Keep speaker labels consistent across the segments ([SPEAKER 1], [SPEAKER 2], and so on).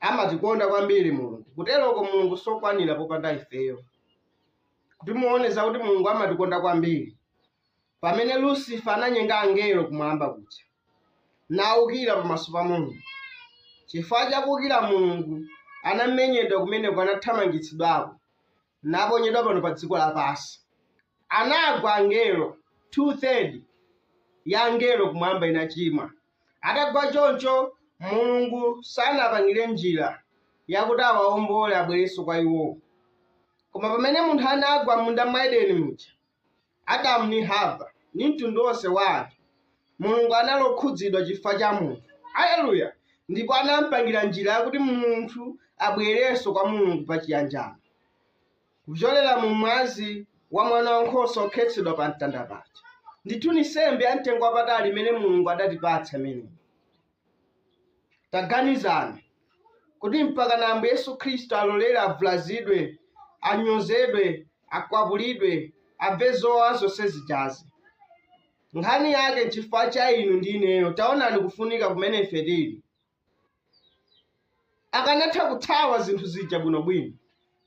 [SPEAKER 1] Amatikonda kwambiri Mulungu. Kuteroko Mulungu siokwanira popanda ifeyo. Kuti muone zakuti Mulungu amatikonda kwambiri, pamene Lusifa ananyenga angelo kumwamba kuja, naukira pamaso pa Mulungu. Chifukwa cha kuukira Mulungu, anamenyedwa kumeneko, anathamangitsidwako, naponyedwa pano pa dziko lapansi. Anagwa angelo, two third ya angelo kumwamba inachimwa. Atagwa choncho, Mulungu sanapangire njira yakuti awaombole abwerenso kwa Iwowo. Koma pamene munthu anagwa m'munda mwa Edeni muja, Adamu ndi Hava ndi mtundu wonse wa anthu, Mulungu anakhudzidwa chifukwa cha munthu, Aleluya, ndipo anampangira njira yakuti munthu abwerenso kwa Mulungu pa chiyanjano. kupyolera mu mwazi wa mwana wankhosa wokhetsedwa pa mtanda paja ndithu ni nsembe ya mtengo wapatali imene mulungu adatipatsa imeneyi taganizani kuti mpaka na ambuye yesu khristu alolere abvulazidwe anyozedwe akwapulidwe abve zowawa zonse zijazi nkhani yake nchifukwa cha inu ndi ineyo taonani kufunika kumene ife tili akanatha kuthawa zinthu zija bwinobwino.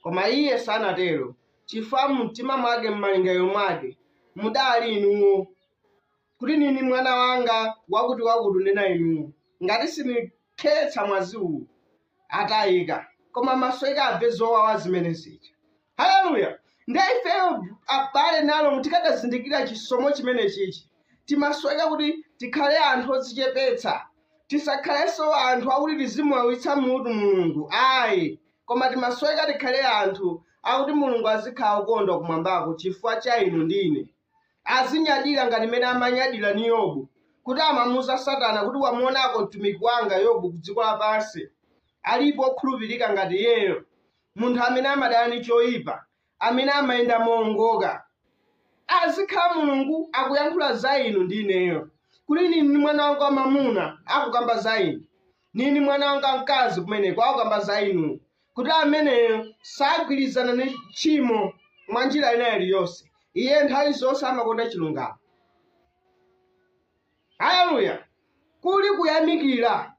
[SPEAKER 1] Koma iye sanatero chifukwa mumtima mwake, m'malingaliro mwake mudali inuwo, kuti nini mwana wanga wakutiwakuti unena inuwo, ngati sindikhetsa mwazi uwu, atayika. Koma maso atamve zowawa zimene zija. haleluya nde ifeyo abale ndi alongo tikadazindikira chisomo chimenechichi timasoweka kuti tikhale anthu odzichepetsa tisakhalenso anthu akuti tizimuwawitsa mutu mulungu ayi koma timasoweka tikhale anthu akuti mulungu azikhala okondwa kumwambako chifukwa cha inu ndi ine azinyadira ngati mmene amanyadira ni yobu kuti amamuza satana kuti wamuonako mtumiki wanga yobu ku dziko lapansi alipo okhulupirika ngati iyeyo munthu amene amadana ndi choyipa, amene amayenda moongoka. Azikhala Mulungu akuyankhula za inu ndi ineyo, kuti nini ni mwana wanga wamamuna akukamba za inu, nini mwana wanga mkazi kumeneko akukamba za inu, kuti ameneyo sagwirizana ndi tchimo mwa njira ina iliyonse. Iye nthawi zonse amakonda chilungamo. Aleluya! Kuli kuyamikira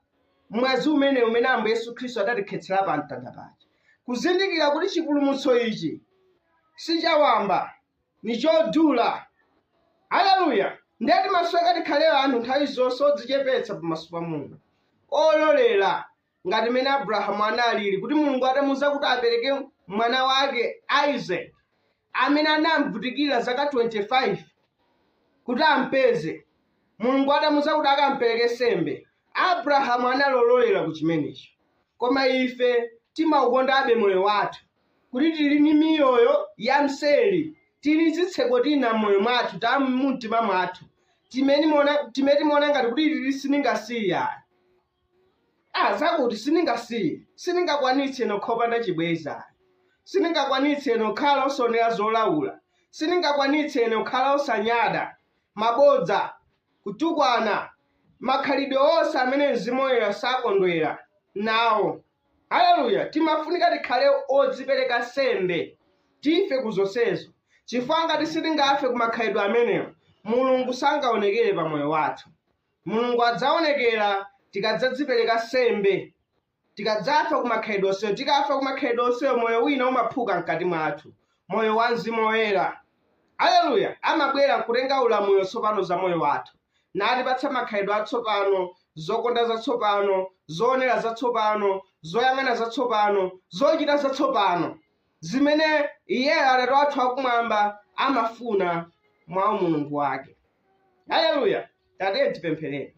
[SPEAKER 1] mwazi umenewu umene Ambuye Yesu Khristu adatikhetsera pa mtanda paja, kuzindikira kuti chipulumutso ichi si cha wamba, ni chodula. Aleluya! Ndiye timasoweka tikhale anthu nthawi zonse odzichepetsa pamaso pa Mulungu, ololera ngati mmene abrahamu analili kuti mulungu atamuuza kuti apereke mwana wake isaac amene anamvutikira zaka 25 kuti ampeze mulungu atamuuza kuti akampereke sembe abrahamu analololera ku chimenecho koma ife timaukondabe moyo wathu kuti tili ndi miyoyo ya mseri tili ndi zitseko tina m'moyo mwathu ta mumtima mwathu timene timaona- timene timaona ngati kuti iti sitingasiye zakuti sindingasiye sindingakwanitse kukhala opanda chibwenzi sindingakwanitse kukhala osaonera zolaula sindingakwanitse kukhala osanena mabodza kutukwana makhalidwe onse amene mzimu woyera sakondwera nawo haleluya timafunika tikhale odzipereka sembe tife ku zonsezo chifukwa ngati sitingafe ku makhalidwe amenewo mulungu sangaonekere pa moyo wathu Mulungu adzaonekera tikadzadzipereka sembe, tikadzafa ku makhalidwe onsewo. Tikafa ku makhalidwe onsewo, moyo wina umaphuka mkati mwathu, moyo wa Mzimu Woyera, aleluya, amabwera nkutenga ulamuliro tsopano za moyo wathu, natipatsa makhalidwe atsopano, zokonda zatsopano, zoonera zatsopano, zoyang'ana zatsopano, zochita zatsopano. zimene iyeyo atate wathu wakumwamba amafuna mwa umulungu wake haleluya tatiyeni tipemphere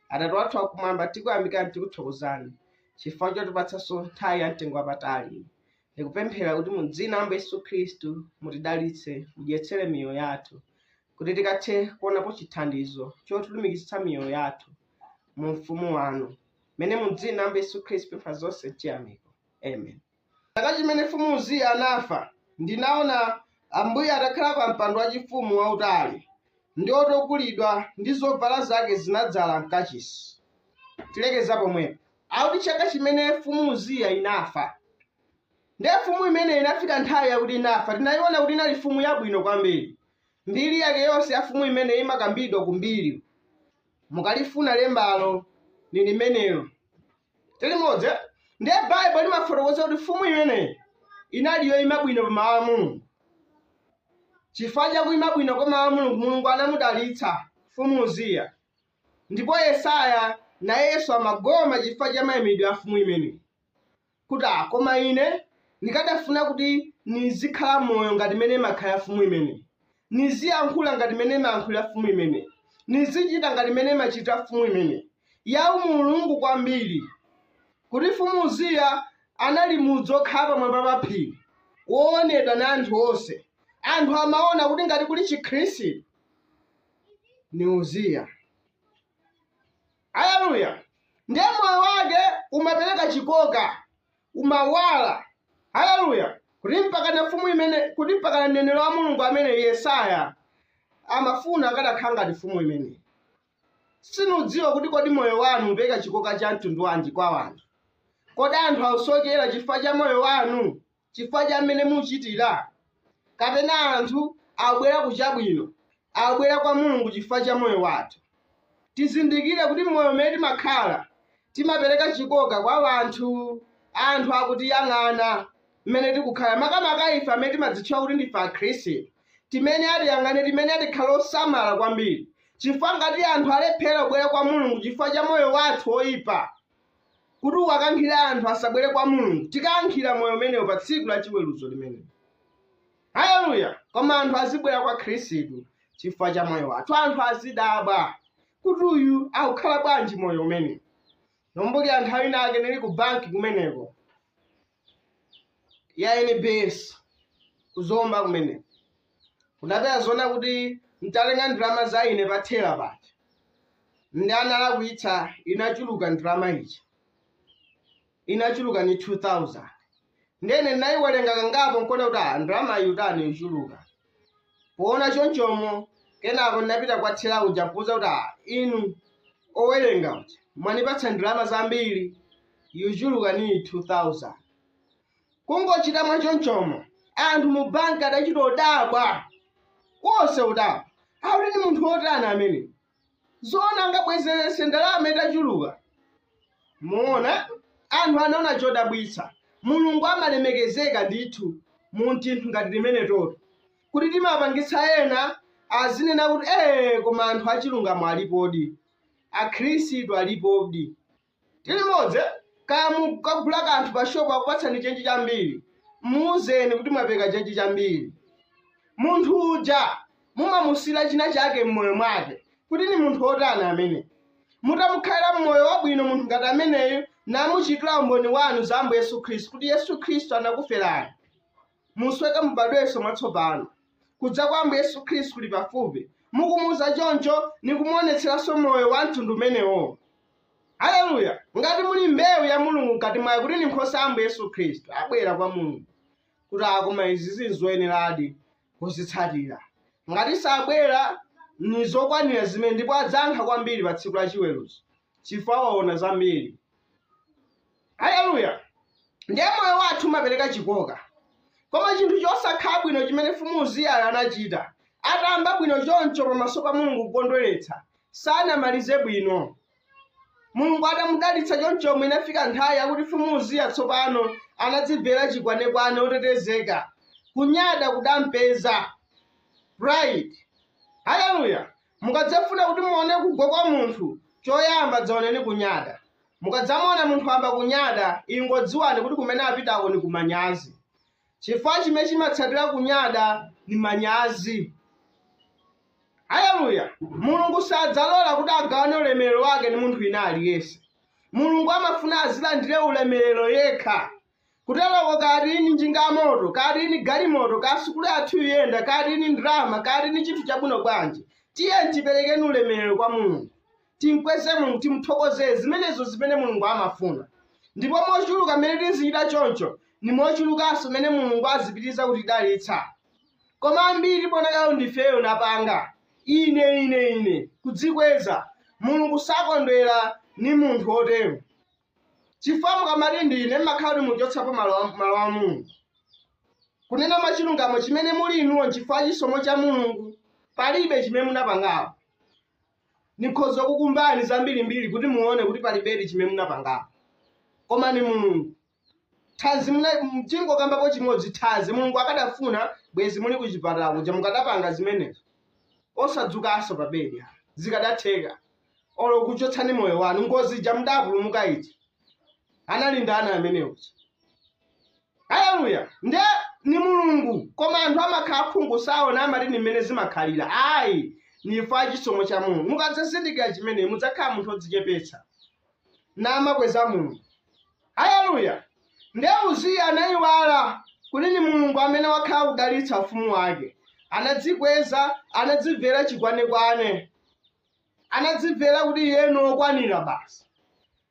[SPEAKER 1] atate wathu wakumwamba tikuyamikani tikuthokozani chifukwa chotipatsanso nthawi ya mtengo wapatali ndikupemphera kuti mu dzina la Ambuye yesu khristu mutidalitse mudyetsere miyoyo yathu kuti tikathe kuonapo chithandizo chotilumikizitsa miyoyo yathu mu ufumu wanu mmene mu dzina la Ambuye yesu khristu ndapempha zonse m'chiyamiko amen Chaka chimene Mfumu Uziya anafa, ndinaona Ambuye atakhala pa mpando wachifumu wautali ndi wotukulidwa ndi zovala zake zinadzaza m'kachisi. Tilekeza pomwepo. Akuti chaka chimene Mfumu Uziya inafa. Ndiye mfumu imeneyi inafika nthawi yakuti inafa. Tinayiona kuti inali mfumu yabwino kwambiri. Mbiri yake yonse ya mfumu imeneyi imakambidwa ku mbiri. mukalifuna lembalo ni limenelo tilimodzi eh? ndiye baibulo limafotokoza kuti mfumu imeneyi inali yoima bwino pa mawu a mulungu chifukwa chakuima bwino kwa mawu a mulungu mulungu anamudalitsa mfumu uziya ndipo yesaya nayenso amagoma chifukwa cha mayimidwe a mfumu imeneyi kuti, Ah, koma ine nikadafuna kuti nizikhala moyo ngati mene imakhala mfumu imeneyi, niziyankhula ngati mene imayankhulira mfumu imeneyi, nizichita ngati mene imachitira mfumu imeneyi. Ya umulungu kwambiri kuti mfumu Uziya anali mudzi wokhala pamwamba pa phiri woonedwa na anthu onse. Anthu amaona kuti ngati kuli Chikhristu ni Uziya. Aleluya! Ndiye moyo wake umapereka chikoka, umawala. Aleluya! Kuti mpakana mfumu imene, kuti mpakana mneneri wa Mulungu amene Yesaya amafuna akadakhala ngati mfumu imeneyi. Sinudziwa kuti kodi moyo wanu upereka chikoka cha mtundu wanji kwa anthu? Kodi anthu akusokera chifukwa cha moyo wanu? chifukwa cha mmene muchitira kapena anthu abwera ku chabwino abwera kwa mulungu chifukwa cha moyo wathu tizindikire kuti moyo umene timakhala timapereka chikoka kwa anthu anthu akutiyang'ana mmene tikukhala makamaka ife amene timadzitchula kuti ndife akhristu timene atiyang'ane timene tikhale osamala kwambiri chifukwa ngati anthu alephera kubwera kwa mulungu chifukwa cha moyo wathu woyipa kuti uwakankhire anthu asabwere kwa mulungu tikayankhira moyo umenewo pa tsiku la chiweruzo limenelo haleluya koma anthu azibwera kwa khristu chifukwa cha moyo wathu anthu azidabwa kuti uyu akukhala bwanji moyo umenewu nkumbukira nthawi inake nili ku banki kumeneko ya NBS kuzomba kumeneko ndapeza zoona kuti ntatenga ndalama za ine pa thela paja ndiye analakwitsa inachuluka ndalama ija inachuluka ni 2000 ndiye ndinayiwerenga kangapo nkuona kuti ah, ndalamayi yatani yachuluka Poona chonchomo, kenako ndinapita kwa thela uja nkuuza kuti ah inu owerenga kuti mwanipatsa ndalama zambiri yachuluka niyi 2000. Kungochita mwa chonchomo anthu mu bank adachita kudabwa, onse kudabwa kuti ndi munthu otani ameneyu. zoona angabweze ndalama itachuluka muona anthu anaona chodabwitsa mulungu amalemekezeka ndithu mu tinthu ngati timeneto kuti timapangitsa ena azinena kuti ee koma anthu achilungamo alipodi akhristu alipodi ndi limodzi kaya mukagula kanthu pa shopu akupatsani chenji chambiri muuzeni kuti mwapereka chenji chambiri munthu uja mumamusiyira china chake mmoyo mwake kuti ni munthu wotani ameneyu mutamukhalira mmoyo wabwino munthu ngati ameneyu namuchitira umboni wanu za ambuye yesu khristu kuti yesu khristu anakuferani musweke mubadwenso mwatsopano kudza kwa ambuye yesu khristu kuli pafupi mukumuuza choncho nikumuonetseranso moyo wa mtundu umenewo haleluya ngati muli mbewu ya mulungu mkati mwake kuti ni nkhosa ya ambuye yesu khristu abwera kwa mulungu kuti a koma izi zinzoyeneradi kuzitsatira ngati sabwera ni zokwanira zimene ndipo adzayankha kwambiri pa tsiku la chiweruzo chifukwa waona zambiri Aleluya! Ndiye moyo wathu umapereka chikoka. Koma chinthu chosakhala bwino chimene Mfumu Uziyayu anachita, atayamba bwino choncho pamaso pa Mulungu kukondweretsa, sanamalize bwino. Mulungu atamudalitsa chonchomo inafika nthawi yakuti Mfumu Uziya tsopano anadzimvera chikwanekwane otetezeka. Kunyada kudampeza. Pride. Aleluya! Mukadzafuna kuti muone kugwa kwa munthu, coyamba dzaoneni kunyada. Mukadzamuona munthu wayamba kunyada, ingodziwani kuti kumene apitako ni ku manyazi. Cifukwa cimene cimatsatila kunyada ni manyazi. Aleluya! Mulungu sadzalola kuti agawane ulemelelo wake ndi munthu wina aliyense. Mulungu amafuna azilandile ulemelelo yekha. kuteroko kaya tili ndi njinga yamoto kaya tili ndi galimoto kaya sukulu yathu yuyenda kaya tili ndi ndalama kaya tili ndi chinthu chabwino bwanji tiyeni tiperekeni ulemerero kwa mulungu timkweze mulungu timthokoze zimenezo zimene mulungu amafuna ndipo mochuluka mmene tizichita choncho ndi mochulukanso mmene mulungu azipitiriza kutidalitsa koma ambiri tikadalitsidwa ifeyo napanga ine ine ine kudzikweza mulungu sakondwera ni munthu wotero chifukwa mukamati ndi ine mmakhala kuti mwachotsapo malo a- malo a mulungu kunena mwa chilungamo chimene muli inuwo nchifukwa chisomo cha mulungu palibe chimene munapangapo nikhoza kukuuzani zambirimbiri kuti muone kuti palibedi chimene munapangapo koma ni mulungu thanzi mwina tingokambapo chimodzi thanzi mulungu akadafuna bwezi muli kuchipatala kuja mukadapanga zimenezo osadzukanso pa bedi zikadatheka olo kuchotsani moyo wanu ngozi ija mudapulumuka ija anali ndani ameneyo haleluya nde ni mulungu koma anthu amakhala akhungu saona amati ni mmene zimakhalira ayi nifa chisomo cha mulungu mukadzazindikira chimenechi mudzakhala munthu odzichepetsa namakweza mulungu haleluya nde uziya anayiwala kuti ni mulungu amene wakhala akudalitsa ufumu wake anadzikweza anadzimvera chikwanekwane anadzimvera kuti iye ni wokwanira basi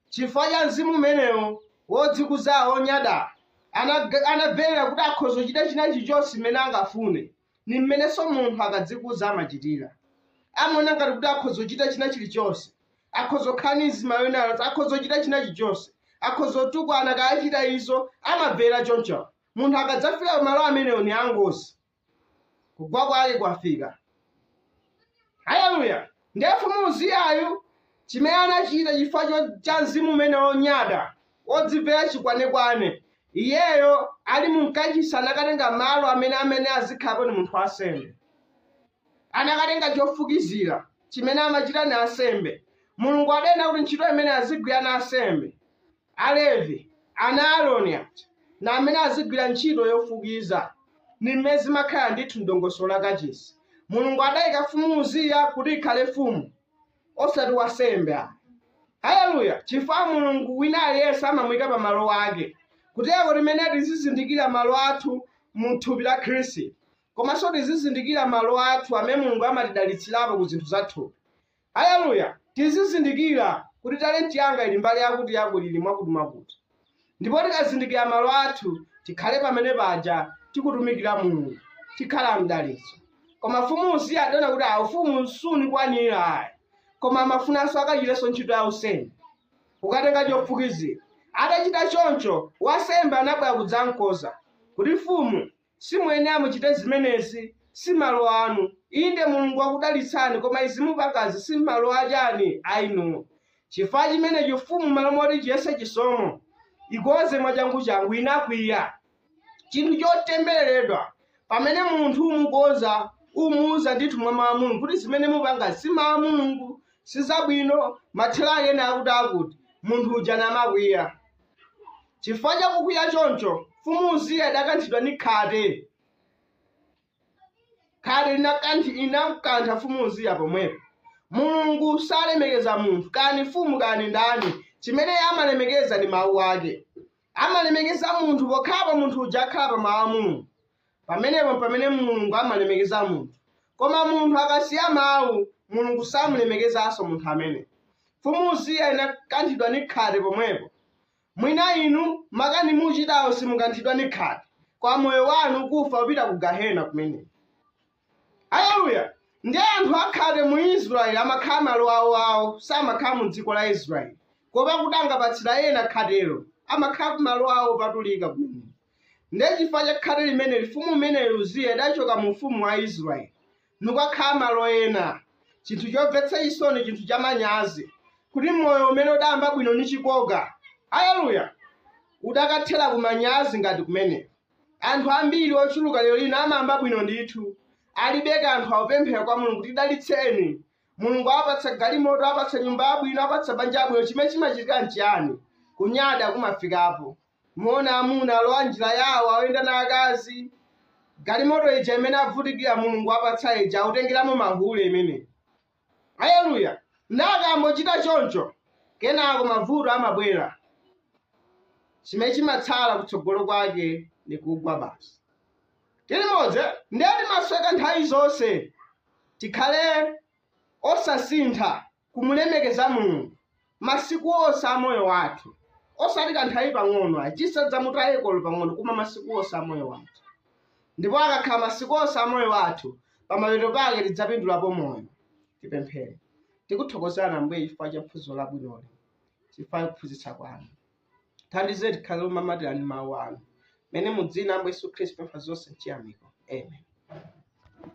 [SPEAKER 1] chifukwa cha mzimu umenewu wodzikuza wonyada Anaga- anamvera kuti akhoza kuchita china chilichonse chimene angafune ni mmenenso munthu akadzikuza amachitira amaona ngati kuti akhoza kuchita china chilichonse akhoza kukhala ni mzimayi wina aliyense akhoza kuchita china chilichonse akhoza kutukwana kuchita izo amamvera choncho munthu akadzafika malo amenewo ni angozi kugwa kwake kwafika haleluya ndiye mfumu uziyayu chimene anachita chifukwa cho- cha mzimu umenewu wonyada wodzimvera chikwanekwane iyeyo ali mu kachisi anakatenga malo amene amene azikhalapo ni munthu wansembe anakatenga chofukizira chimene amachita ni ansembe mulungu adanena kuti ntchito imeneyi azigwira ni ansembe Alevi, ana a Aroni aja, ni amene azigwila nchito yofukiza. Ni mmene zimakhala ndithu m'dongosolo la kacisi. Mulungu adaika Mfumu Uziya kuti ikhale mfumu, osati wansembe ayi. Haleluya! Cifukwa Mulungu wina aliyense amamuika pa malo ake. Kuteko nafe tizizindikila malo athu mu thupi la Khristu, komanso tizizindikila malo athu amene Mulungu amatidalitsilapo ku zinthu za thupi. Aleluya! Tizizindikira kuti talenti yanga ili mbali yakutiyakuti, ili mwakutimwakuti. Ndipo tikazindikira malo athu, tikhale pamene paja, tikutumikira Mulungu, tikhale mdalitso. Koma Mfumu Uziya adaona kuti a, ufumu sunikwanira ai, koma amafunanso akachitenso ntchito ya unsembe, kukatenga chofukizira. Atachita choncho, wansembe anabwera kudzamkoza, kuti, Mfumu, Simuyenera muchite zimenezi. Simalo anu. Inde Mulungu wakudalitsani koma izi mupangazi simalo achani anu. Chifukwa chimenechi mfumu malo moti chiyese chisomo ikoze mwachanguchangu inakwiya. Chinthu chotembeleledwa pamene munthu umukoza umuuza ndithu mwa mau a Mulungu kuti zimene mupangazi si mau a Mulungu, sizabwino, mathelo ake ni akuti akuti, munthu uja namakwiya. Chifukwa cha kukwiya choncho, Mfumu Uziya idakanthidwa ni khate. Khate linakanthi- linamkantha Mfumu Uziya pomwepo. Mulungu salemekeza munthu, kaya ndi mfumu kaya ndi ndani. Chimene Iye amalemekeza ndi Mawu Ake. Amalemekeza munthu pokhapo munthu uja akhala pa Mawu a Mulungu. Pamenepo mpamene Mulungu amalemekeza munthu. Koma munthu akasiya mawu, Mulungu samulemekezanso munthu amene. Mfumu Uziya inakanthidwa ni khate pomwepo. Mwina inu makani muucitawo simukanthidwa ni khate, koma moyo wanu kufa upita ku Gahena kumeneko. Aleluya! Ndiye anthu akhate mu Israele amakhala malo aoao, samakhala mu dziko la Israele. Kuopa kuti angapatsira ena khatelo, amakhala ku malo ao opatulika kumeneko. Ndiye chifukwa cha khate limeneli mfumu imeneyi Uziya idachoka mu ufumu wa Israele, nikukakhala malo ena. Chinthu chomvetsa chisoni, chinthu chamanyazi, kuti moyo umene udayamba bwino nichikoka, aleluya, udakathera ku manyazi ngati kumeneko. Anthu ambiri ochuluka lero lino amayamba bwino ndithu, alibe kanthu, akupemphera kwa Mulungu tidalitseni. Mulungu awapatsa galimoto, awapatsa nyumba yabwino, awapatsa banja labwino. Chimene chimachitika nchiyani? Kunyada kumafikapo. Muona amuna alowa njira yawo, akuyenda na akazi. Galimoto ija imene avutikira, Mulungu apatsa ija, akutengeramo mahule imene. Aleluya! Nde akangochita choncho, kenako mavuto amabwera, chimene chimatsala kutsogolo kwake ndi kugwa basi. Tili limodzi, ndiye timasweka nthawi zonse. Tikhale osasintha kumulemekeza Mulungu masiku onse a moyo wathu osati kanthawi pang'ono ayi tisadzamutayeko olo pang'ono koma masiku onse a moyo wathu ndipo akakhala masiku onse a moyo wathu pamapeto pake tidzapindulapo moyo tipemphere tikuthokozani ambuye chifukwa cha phunziro labwinoli chifukwa cha kuphunzitsa kwanu tithandizeni tikhale omamatirana ndi mawu anu mmene mudzina ambuye yesu khristu tapempha zonse mchiyamiko amen